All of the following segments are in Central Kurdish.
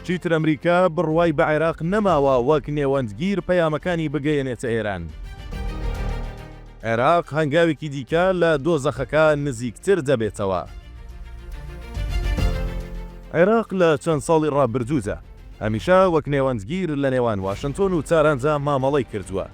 چیتر ئەمریکا بڕوای بە عێراق نەماوە وەک نێوەندگیر پەیامەکانی بگەیەنێتە ئێران. عێراق هەنگاوێکی دیکە لە دۆزەخەکە نزیکتر دەبێتەوە. عێراق لە چەند ساڵی ڕابردوودا هەمیشە وەک نێوەندگیر لە نێوان واشنتۆن و تاراندا مامەڵەی کردووە.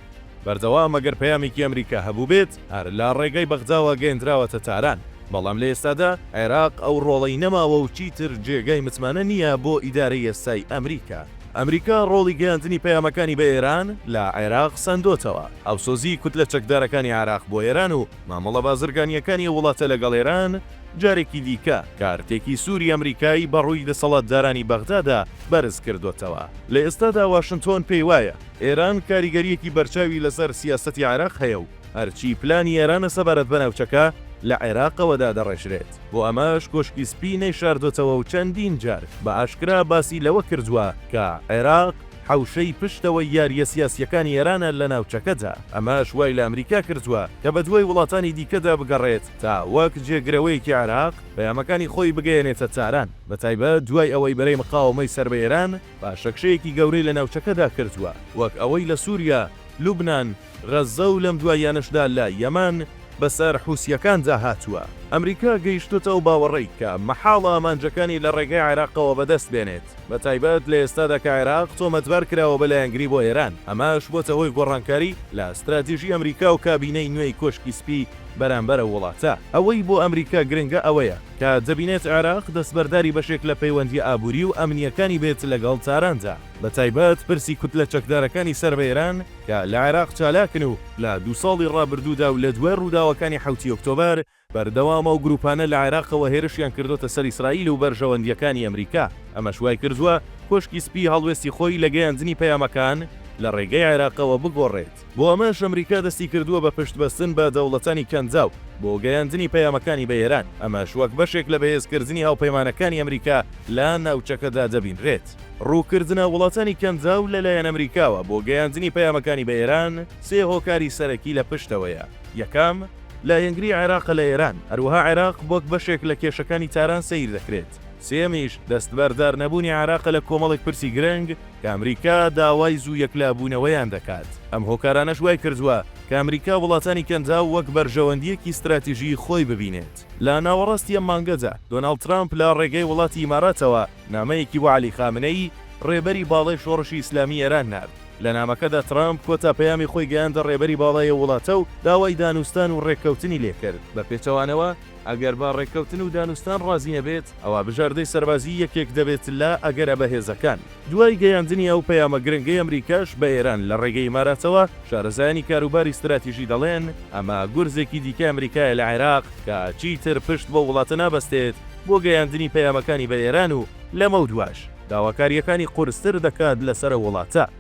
بەردەوام ئەگەر پەیامێکی ئەمریکا هەبووبێت، هەر لە ڕێگای بەغداوە گەیەندراوەتە تاران، بەڵام لە ئێستادا عێراق ئەو ڕۆڵەی نەماوە و چیتر جێگای متمانە نییە بۆ ئیدارەی ئێستای ئەمریکا. ئەمریکا ڕۆڵی گەیاندنی پەیامەکانی بە ئێران لە عێراق سەندۆتەوە، هاوسۆزیی کوتلە چەکدارەکانی عێراق بۆ ئێران و مامەڵە بازرگانییەکانی ئەو وڵاتە لەگەڵ ئێران جارێکی دیکە کارتێکی سووری ئەمریکای بە ڕووی دەسەڵاتدارانی بەغدادا بەرز کردۆتەوە. لە ئێستادا واشنتۆن پێیوایە، ئێران کاریگەرییەکی بەرچاوی لەسەر سیاسەتی عێراق هەیە و هەرچی پلانی ئێرانە سەبارەت بە ناوچەکە لە عێراقەوە دادەڕێژرێت، بۆ ئەمەش کۆشکی سپی نەیشاردۆتەوە و چەندین جار بە ئاشکرا باسی لەوە کردووە کە عێراق حەوشەی پشتەوەی یارییە سیاسییەکانی ئێرانە لە ناوچەکەدا، ئەمەش وای لە ئەمریکا کردووە کە بەدوای وڵاتانی دیکەدا بگەڕێت تا وەک جێگرەوەیەکی عێراق پەیامەکانی خۆی بگەیەنێتە تاران، بەتایبەت دوای ئەوەی بەرەی مقاوەمەی سەر بە ئێران، پاشەکشەیەکی گەورەی لە ناوچەکەدا کردووە، وەک ئەوەی لە سووریا، لوبنان، غەززە و لەم دواییانەشدا لە یەمەن بەسەر حوسییەکاندا هاتووە. ئەمریکا گەیشتووتە ئەو باوەڕەی کە مەحاڵە ئامانجەکانی لە ڕێگەی عێراقەوە بەدەست بێنێت، بەتایبەت لە ئێستادا کە عێراق تۆمەتبار کراوە بە لایەنگری بۆ ئێران، ئەمەش بۆتە هۆی گۆڕانکاری لە ستراتیژی ئەمریکا و کابینەی نوێی کۆشکی سپی. بەرامبەر ئەو وڵاتە. ئەوەی بۆ ئەمریکا گرنگە ئەوەیە کە دەبینێت عێراق دەستبەرداری بەشێک لە پەیوەندییە ئابووری و ئەمنییەکانی بێت لەگەڵ تاراندا، بەتایبەت پرسی کوتلە چەکدارەکانی سەر بە ئێران کە لە عێراق چالاکن و لە دوو ساڵی ڕابردوودا و لە دوای ڕووداوەکانی حەوتی ئۆکتۆبەر بەردەوام ئەو گرووپانە لە عێراقەوە هێرشیان کردۆتە سەر ئیسرائیل و بەرژەوەندییەکانی ئەمریکا، ئەمەش وای کردووە کۆشکی سپی هەڵوێستی خۆی لە گەیاندنی پەیامەکان لە ڕێگەی عێراقەوە بگۆڕێت. بۆ ئەمەش ئەمریکا دەستی کردووە بە پشت بەستن بە دەوڵەتانی کەنداو بۆ گەیاندنی پەیامەکانی بە ئێران، ئەمەش وەک بەشێک لە بەهێز کردنی هاوپەیمانەکانی ئەمریکا لە ناوچەکەدا دەبینرێت. ڕووکردنە وڵاتانی کەنداو لە لایەن ئەمریکاوە بۆ گەیاندنی پەیامەکانی بە ئێران سێ هۆکاری سەرەکی لە پشتەوەیە، یەکەم، لایەنگری عێراقە لە ئێران، هەروەها عێراق وەک بەشێک لە کێشەکانی تاران سەیر دەکرێت، سێیەمیش، دەستبەردار نەبوونی عێراقە لە کۆمەڵێک پرسی گرنگ، کە ئەمریکا داوای زوو یەکلابوونەوەیان دەکات، ئەم هۆکارانەش وای کردووە کە ئەمریکا وڵاتانی کەنداو وەک بەرژەوەندییەکی ستراتیژیی خۆی ببینێت. لە ناوەڕاستی ئەم مانگەدا، دۆناڵد ترامپ لە ڕێگەی وڵاتی ئیماراتەوە نامەیەکی بۆ عەلی خامنەیی، ڕێبەری باڵای شۆڕشی ئیسلامیی ئێران نارد. لە نامەکەدا ترامپ کۆتا پەیامی خۆی گەیاندە ڕێبەری باڵای ئەو وڵاتە و داوای دانوستان و ڕێککەوتنی لێ کرد. بە پێچەوانەوە، ئەگەر بە ڕێککەوتن و دانوستان ڕازی نەبێت، ئەوا بژاردەی سەربازیی یەکێک دەبێت لە ئەگەرە بەهێزەکان. دوای گەیاندنی ئەو پەیامە گرنگەی ئەمریکاش بە ئێران لە ڕێگەی ئیماراتەوە، شارەزایانی کاروباری ستراتیژی دەڵێن، ئەمە گورزێکی دیکەی ئەمریکایە لە عێراق کە چیتر پشت بەو وڵاتە نابەستێت بۆ گەیاندنی پەیامەکانی بە ئێران و لەمەودواش داواکارییەکانی قورستر دەکات لەسەر ئەو وڵاتە.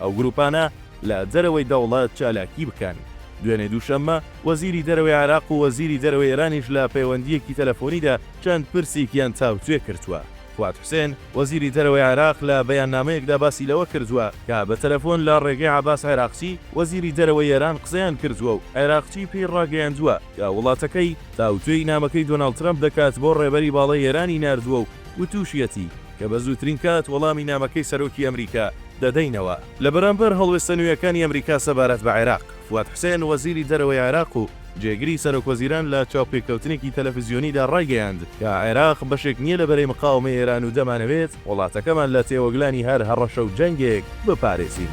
ئەو گروپانە لە دەرەوەی دەوڵەت چالاکی بکەن. دوێنێ دووشەممە، وەزیری دەرەوەی عێراق و وەزیری دەرەوەی ئێرانیش لە پەیوەندییەکی تەلەفۆنیدا چەند پرسیکیان تاوتوێ کردووە. فواد حوسێن، وەزیری دەرەوەی عێراق لە بەیاننامەیەکدا باسی لەوە کردووە کە بە تەلەفۆن لە ڕێگەی عەباس عێراقچی، وەزیری دەرەوەی ئێران قسەیان کردووە و عێراقچی پێی ڕاگەیاندووە کە وڵاتەکەی تاوتوێی نامەکەی دۆناڵد ترەمپ دەکات بۆ ڕێبەری باڵای ئێرانی ناردووە و وتووشیەتی، کە بە زووترین کات وەڵامی نامەکەی سەرۆکی ئەمریکا دەدەینەوە. لە بەرامبەر هەڵوێستە نوێیەکانی ئەمریکا سەبارەت بە عێراق، فواد حوسێن، وەزیری دەرەوەی عێراق و جێگری سەرۆکوەزیران لە چاوپێکەوتنێکی تەلەفزیۆنیدا ڕایگەیاند کە عێراق بەشێک نییە لە بەرەی مقاوەمەی ئێران و دەمانەوێت وڵاتەکەمان لە تێوەگلانی هەر هەڕەشە و جەنگێک بپارێزین.